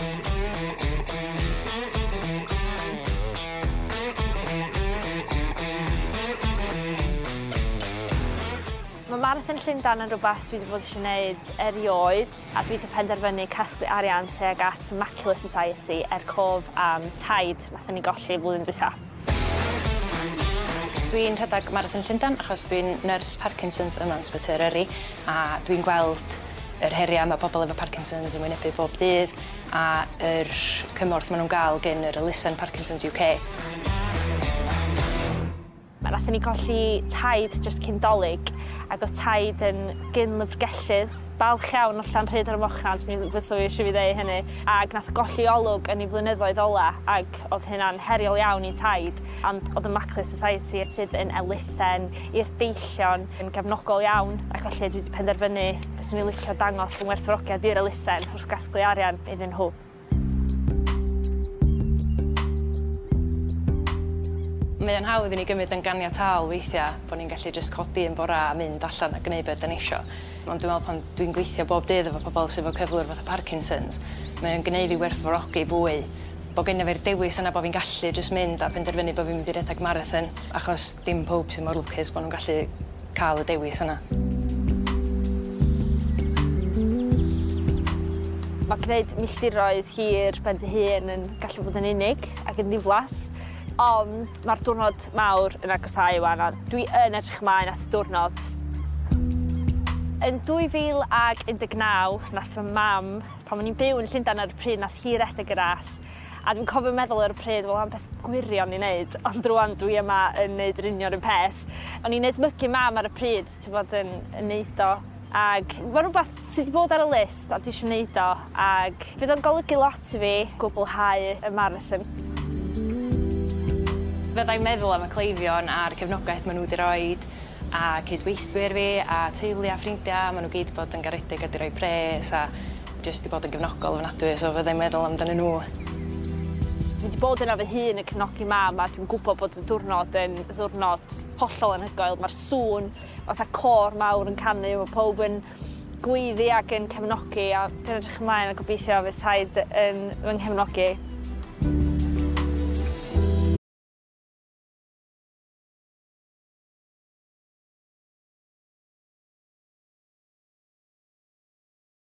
Mae Marathon Llundain yn rhywbeth dwi wedi bod eisiau gwneud erioed a dwi wedi penderfynu casglu arian tuag at Macular Society er cof am taid nathon ni golli flwyddyn dwytha. Dwi'n rhedeg Marathon Llundain achos dwi'n nyrs Parkinsons yma yn Sbyty Eryri a dwi'n gweld yr heria' ma' pobol efo Parkinsons yn wynebu bob dydd a yr cymorth ma' nw'n ga'l gin yr elusen Parkinsons UK. Nathon ni golli taid jyst cyn 'Dolig ag o'dd taid yn gyn-lyfrgellydd. Balch iawn o Llanrhyd ar y Mochnant, mi fyswn i isio fi ddeu hynny, ag nath golli olwg yn ei flynyddoedd ola, ag o'dd hynna'n heriol iawn i Taid, ond o'dd y Mackley Society sydd yn elusen i'r deillion yn gefnogol iawn, ac felly dwi 'di penderfynu fyswn i licio dangos fy ngwerthfawrogiad i'r elusen wrth gasglu arian iddyn nhw. Mae o'n hawdd i ni gymryd yn ganiataol weithiau bod ni'n gallu jyst codi un bore a mynd allan a gwneud be ydan ni isio. Ond dwi'n meddwl pan dwi'n gweithio bob dydd efo pobl sydd efo cyflwr fatha Parkinson's, mae o'n gneud fi werthfawrogi fwy bod gennyf fi'r dewis yna bod fi'n gallu jyst mynd a penderfynu bod fi'n mynd i redeg marathon achos dim pawb sydd mor lwcus bod nhw'n gallu ca'l y dewis yna. Mae gwneud milltiroedd hir ben dy hun yn gallu bod yn unig ac yn ddiflas, ond mae'r diwrnod mawr yn agosáu 'wan a dwi yn edrych ymlaen at y diwrnod. Yn 2019 nath fy mam, pan o'n i'n byw yn Llundain ar y pryd, nath hi redeg y ras. A dwi'n cofio meddwl ar y pryd wel am beth gwirion i neud ond rŵan dwi yma yn neud yr union 'r un peth. O'n i'n edmygu mam ar y pryd t'bod yn yn neud o ag ma' rwbath sy 'di bod ar y list a dwi isio neud o ag fydd o'n golygu lot i fi gwblhau y marathon. Fyddai'n meddwl am y cleifion a'r cefnogaeth ma' n'w 'di roid a cyd-weithwyr fi a teulu a ffrindia ma' n'w gyd 'di bod yn garedig a 'di roi pres a Jyst 'di bod yn gefnogol ofnadwy so fyddai'n meddwl amdanyn nhw. Fi 'di bod yna fy hun yn cefnogi mam a dwi'n gwybod bod y diwrnod yn ddiwrnod hollol anhygoel. Mae'r sŵn fatha côr mawr yn canu, mae pawb yn gweiddi ac yn cefnogi a dwi'n edrych ymlaen a gobeithio fydd taid yn fy nghefnogi.